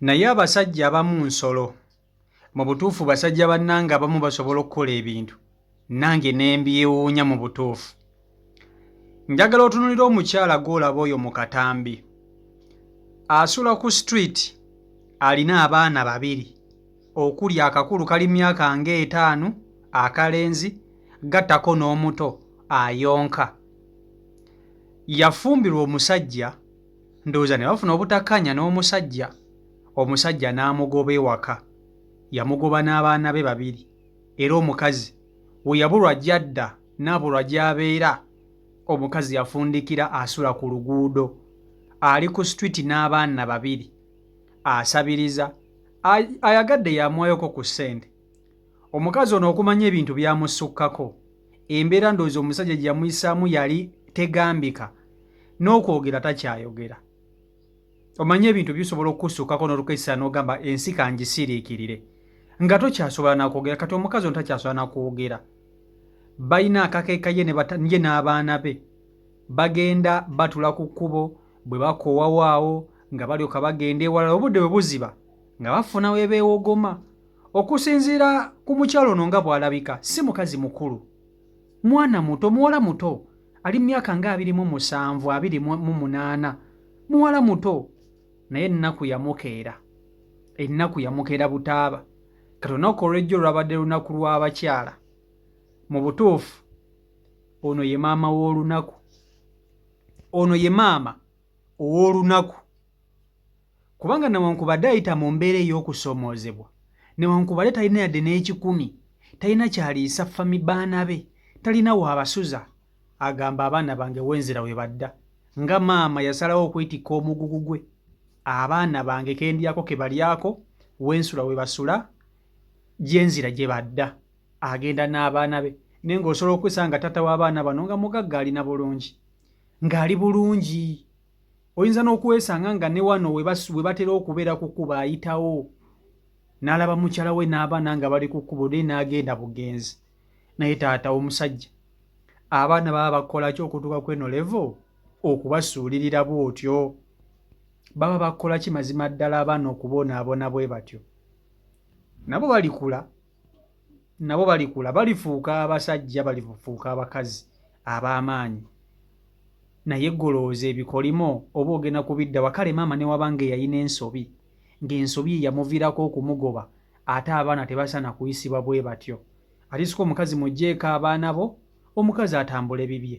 naye abasajja abamu nsolo mu butuufu basajja bannange abamu basobola okukola ebintu nange nembyewuunya mu butuufu njagala otunulira omukyala gwolaba oyo mu katambi asula ku street alina abaana babiri okuli akakulu kali myaka nga etaano akalenzi gattako n'omuto ayonka yafumbirwa omusajja ndowooza ne bafuna obutakkanya n'omusajja omusajja n'amugoba ewaka yamugoba n'abaana be babiri era omukazi we yabulwa gyadda n'abulwa gy'abeera omukazi yafundikira asula ku luguudo ali ku situiti n'abaana babiri asabiriza ayagadde yamwayoko ku ssente omukazi ono okumanya ebintu byamusukkako embeera ndowooza omusajja gye yamuyisaamu yali tegambika n'okwogera takyayogera omanye ebintu bisobola okukusukkako n'olukeesa n'ogamba ensi kangisiriikirire nga tokyasobola nakwogera kati omukazi ono takyasobola nakwogera balina akakeeka ye ye n'abaana be bagenda batula ku kkubo bwe bakowawaawo nga balyoka bagenda ewalala obudde bwe buziba nga bafuna webeewogoma okusinziira ku mukyalo ono nga bw'alabika si mukazi mukulu mwana muto muwala muto ali mu myaka nga abiri mu musanvu abiri mu munaana muwala muto naye ennaku yamukeera ennaku yamukeera butaaba kati olunaku olwejjo lwabadde lunaku lw'abakyala mu butuufu ono ye maama w'olunaku ono ye maama ow'olunaku Kubanga newankubadde ayita mu mbeera ey'okusoomoozebwa, newankubadde talina yadde n'ekikumi, talina ky'aliisa fami baana be, talina w'abasuza, agamba abaana bange wenzira we badda. Nga maama yasalawo okwetikka omugugu gwe, abaana bange ke ndyako ke balyako, we nsula we basula, gye nzira gye badda. Agenda n'abaana be naye ng'osobola okwesanga nga taata w'abaana bano nga mugagga alina bulungi, ng'ali bulungi. oyinza n'okwesanga nga ne wano we batera okubeera ku kkuba ayitawo n'alaba mukyala we n'abaana nga bali ku kkubo naye n'agenda bugenzi naye taata omusajja abaana baba bakola ki okutuuka ku eno levo okubasuulirira bw'otyo baba bakola ki mazima ddala abaana okubonaabona bwe batyo nabo balikula nabo balikula balifuuka abasajja balifuuka abakazi ab'amaanyi naye golooza ebikolimo oba ogenda kubiddawa kale maama newaba nga eyalina ensobi ng'ensobi yeyamuvirako okumugoba ate abaana tebasaana kuyisibwa bwe batyo atiska omukazi mugyeeko abaana bo omukazi atambule bibye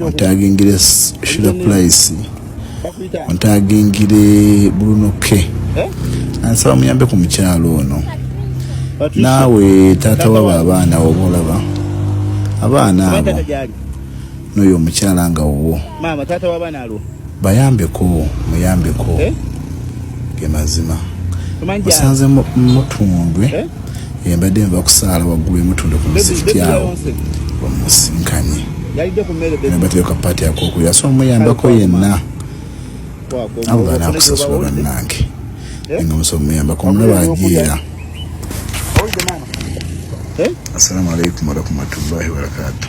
ontagingire shira pulaisi ontagingire bruno k eh? ansaba muyambe ku mukyalo ono naawe taata wabo abaana oba olaba abaana abo n'oyo omukyala nga wuwo Bayambeko, muyambeko. Eh? Ge mazima. Musanze mutundwe. Eh? Embadde nva kusaala waggulu emutundwe ku muzikiti awo. Bamusinkanye. Yalidde ku mmere bebe. Embadde yoka pati akokulira. So muyambeko yenna. Allah anakusasula bannange. Eh? Nga musaba muyambako omulaba ajeera. Eh? Assalamu alaikum warahmatullahi wabarakatuh.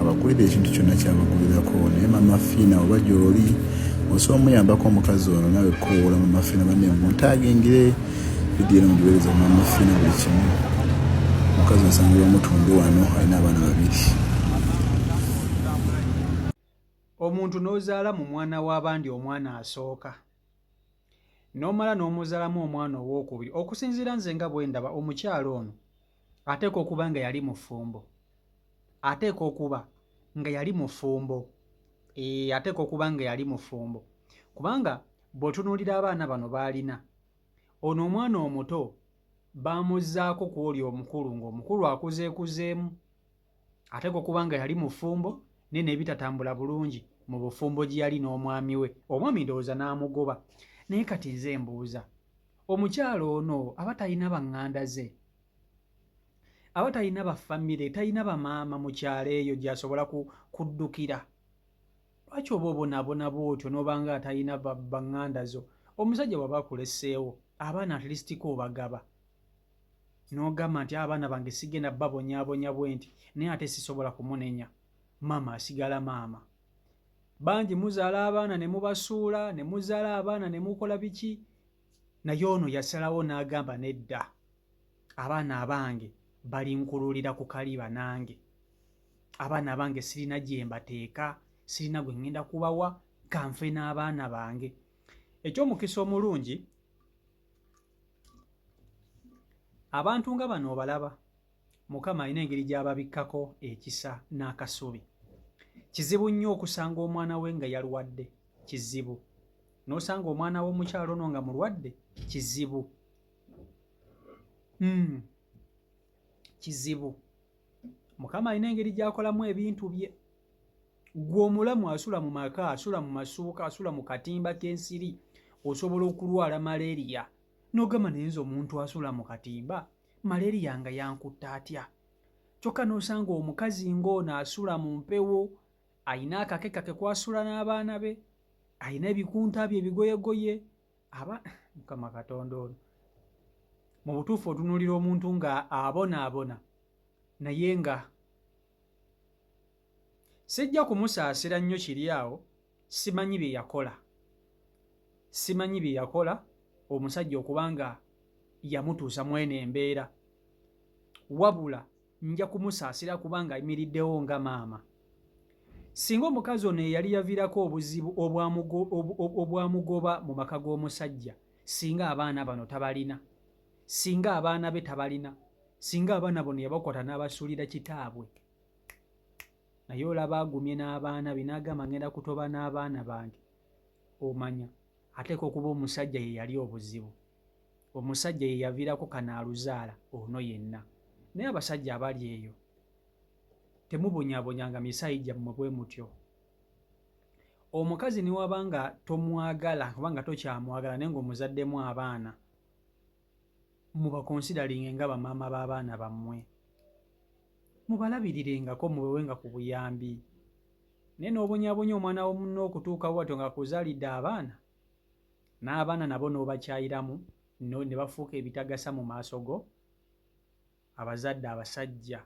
abakulira ekintu kyonna kyabakulirako naye mama fiina oba gyoli osobola omuyambako omukazi ono nawe kowoola mama fiina bane muntagingire vidiyo eno mugiwereza mama fiina buli kimu omukazi osanga bamutundu wano alina abaana babiri omuntu n'ozaala mu mwana w'abandi omwana asooka n'omala n'omuzalamu omwana ow'okubiri okusinziira nze nga bwe ndaba omukyala ono ateeka okuba nga yali mufumbo ateeka okuba nga yali mufumbo ee eh, ateeka okuba nga yali mufumbo kubanga bw'otunuulira abaana bano baalina ono omwana omuto baamuzzaako ku oli omukulu ng'omukulu akuzeekuzeemu ate ko kubanga yali mufumbo naye nebitatambula bulungi mu bufumbo gye yali n'omwami we omwami ndowooza n'amugoba naye kati nze mbuuza omukyalo ono aba talina baŋŋanda ze aba talina bafamire talina bamaama mu kyalo eyo gyasobola kuddukira lwaki oba obonabona bwotyo nobanga atalina baŋŋanda zo omusajja waba akuleseewo abaana atilisitiko obagaba n'ogamba nti abaana bange sigenda babonyabonya bwe nti naye ate sisobola kumunenya maama asigala maama bangi muzaala abaana ne mubasuula ne muzaala abaana ne mukola biki naye ono yasalawo n'agamba nedda abaana abange balinkululira ku kali banange abaana abange sirina gye mbateeka sirina gwe ŋŋenda kubawa kanfe n'abaana bange ekyomukisa omulungi abantu nga bano obalaba mukama alina engeri gy'ababikkako ekisa n'akasubi kizibu nnyo okusanga omwana we nga yalwadde kizibu n'osanga omwana w'omukyalo ono nga mulwadde kizibu hmm. kizibu mukama alina engeri gy'akolamu ebintu bye gwe omulamu asula mu maka asula mu masuuka asula mu katimba k'ensiri osobola okulwala malaria n'ogamba naye nze omuntu asula mu katimba malaria nga yankutta atya kyokka n'osanga omukazi ng'ono asula mu mpewo alina akake kake kwasula n'abaana be alina ebikunta bye ebigoyegoye aba mukama katonda ono mu butuufu otunuulira omuntu nga abonaabona naye nga sijja kumusaasira nnyo kiri awo simanyi bye yakola simanyi bye yakola omusajja okuba nga yamutuusa mu eno embeera wabula nja kumusaasira kubanga ayimiriddewo nga maama singa omukazi ono eyali yaviirako obuzibu obwamugoba mu maka g'omusajja singa abaana bano tabalina singa abaana be tabalina singa abaana bono yabakwata n'abasuulira kitaabwe naye olaba agumye n'abaana be n'agamba ngenda kutoba n'abaana bange omanya ateeka okuba omusajja ye yali obuzibu omusajja ye yaviirako kanaaluzaala ono yenna naye abasajja abali eyo temubonyabonyanga misaayi gyammwe bwe mutyo omukazi newaba nga tomwagala oba nga tokyamwagala naye ngaomuzaddemu abaana mubakonsidalinge nga bamaama b'abaana bammwe, mubalabiriringako, mubewenga ku buyambi. Naye n'obonyaabonya omwana wa munno okutuuka bwatyo ng'akuzaalidde abaana, n'abaana nabo n'obakyayiramu ne bafuuka ebitagasa mu maaso go? Abazadde abasajja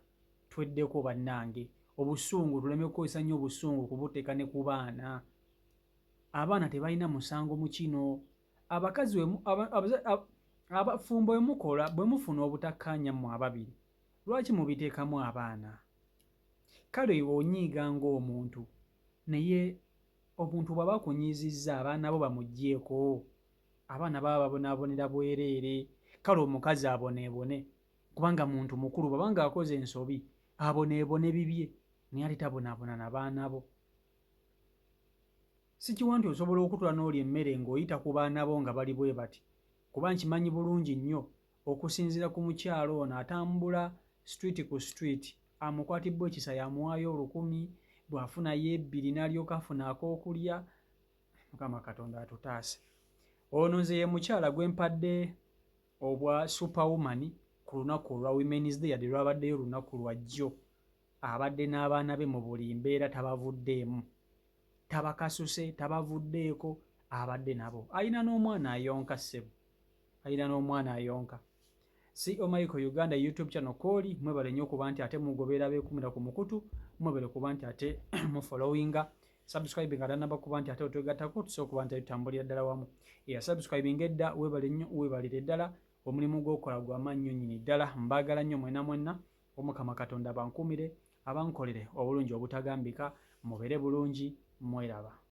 tweddeko bannange, obusungu tuleme kukozesa nnyo obusungu kubuteeka ne ku baana. Abaana tebalina musango mu kino. Abakazi abafumbo bwe mukola bwe mufuna obutakkaanya mmwe ababiri, lwaki mubiteekamu abaana? Kale oyo onyiiga ng'omuntu, naye omuntu bw'aba akunyiizizza abaana bo bamuggyeeko? Abaana baba babonaabonera bwereere, kale omukazi aboneebone kubanga muntu mukulu bw'aba ng'akoze ensobi aboneebone bibye naye ate tabonaabona na baana bo. Sikiwa nti osobola okutula n'olya emmere ng'oyita ku baana bo nga bali bwe bati kuba nkimanyi bulungi nnyo okusinziira ku mukyala ono atambula situwiiti ku situwiiti amukwatibbwa ekisa yamuwaayo olukumi bw'afuna yeebbiri n'alyoka afuna ak'okulya mukama katonda atutaase ono nze ye mukyala gwe mpadde obwa superwoman ku lunaku olwa women's day yadde lwabaddeyo olunaku lwajjo abadde n'abaana be mu buli mbeera tabavuddeemu tabakasuse tabavuddeeko abadde nabo alina n'omwana ayonka ssebo alina n'omwana ayonka si omaiko e uganda youtube channel kooli mwebale nnyo okuba nti ate mugobeera beekumira ku mukutu mwebale kuba nti ate mufollowinga subscribe nga tanaba kuba nti ate otwegattako tusobola okuba nti tutambulira ddala wamu eya subscribinga edda webale nnyo webalire ddala omulimu gwokola gwamaannyo nyini ddala mbaagala nnyo mwena mwenna omukama katonda bankuumire Abankolere obulungi obutagambika mubere bulungi mweraba.